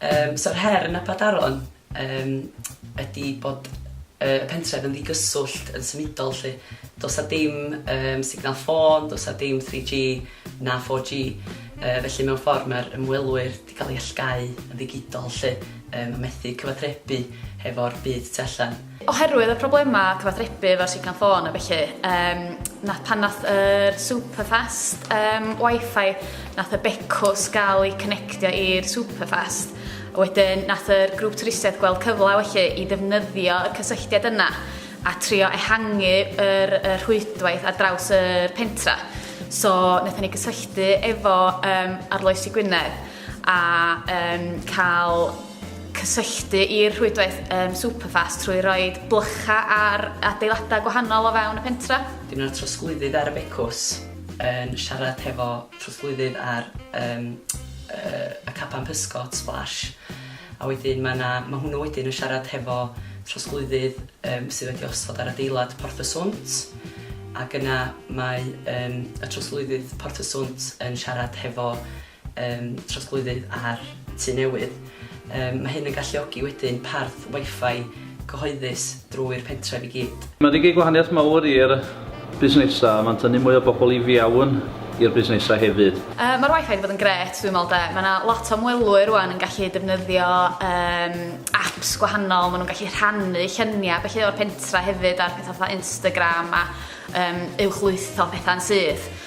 Um, So'r her yn Abadaron um, ydy bod uh, y pentref yn ddigyswllt yn symudol lle. Does a dim um, signal ffôn, does a dim 3G na 4G. Uh, felly mewn ffordd mae'r ymwelwyr 'di cael ei allgáu yn ddigidol 'lly, yym, a methu cyfatrebu hefo'r byd tu allan. Oherwydd y problemau cyfatrebu efo'r signal ffôn a felly, um, nath pan nath yr superfast um, wifi, nath y becws gael ei connectio i'r superfast. A wedyn nath yr grŵp twristiaeth gweld cyfle felly i ddefnyddio y cysylltiad yna a trio ehangu yr y rhwydwaith ar draws y pentra. So wnaethon ni gysylltu efo um, Arloesi Gwynedd a um, cael cysylltu i'r rhwydwaith um, Superfast trwy roi blycha ar adeiladau gwahanol o fewn y pentra. Dyn nhw'n trosglwyddydd ar y becws yn siarad hefo trosglwyddydd ar um, uh, y capan pysgod splash A wedyn mae 'na, mae hwnnw wedyn yn siarad hefo trosglwyddydd yym sydd wedi osod ar adeilad Porth y Swnt, ac yna mae yym y trosglwyddydd Porth y Swnt yn siarad hefo yym trosglwyddydd ar Tŷ Newydd. Yym mae hyn yn galluogi wedyn parth Wi-Fi cyhoeddus drwy'r pentref i gyd. Mae'n ei gei gwahaniaeth mawr i'r busnesau, mae'n tynnu mwy o bobl i fiawn i'r busnesau hefyd. Mae'r wifi wedi bod yn grêt dwi'n meddwl de, mae yna lot o ymwelwyr rwan yn gallu defnyddio um, apps gwahanol, maen nhw'n gallu rhannu lluniau felly o'r pentra hefyd ar pethau fatha Instagram a um, uwchlwytho pethau'n syth.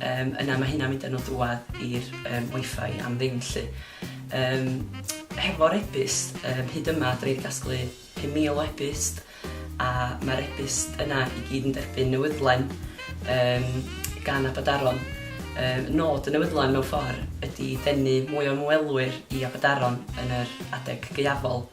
Yym yna mae hynna'n mynd â nhw drwad i'r um, wifi am ddim lly. Um, hefo'r ebyst, um, hyd yma dwi wedi gasglu 5,000 o ebyst a mae'r ebyst yna i gyd yn derbyn newydlen um, gan Abadaron. Um, nod y newydlen mewn ffordd ydy denu mwy o ymwelwyr i Abadaron yn yr adeg gaeafol.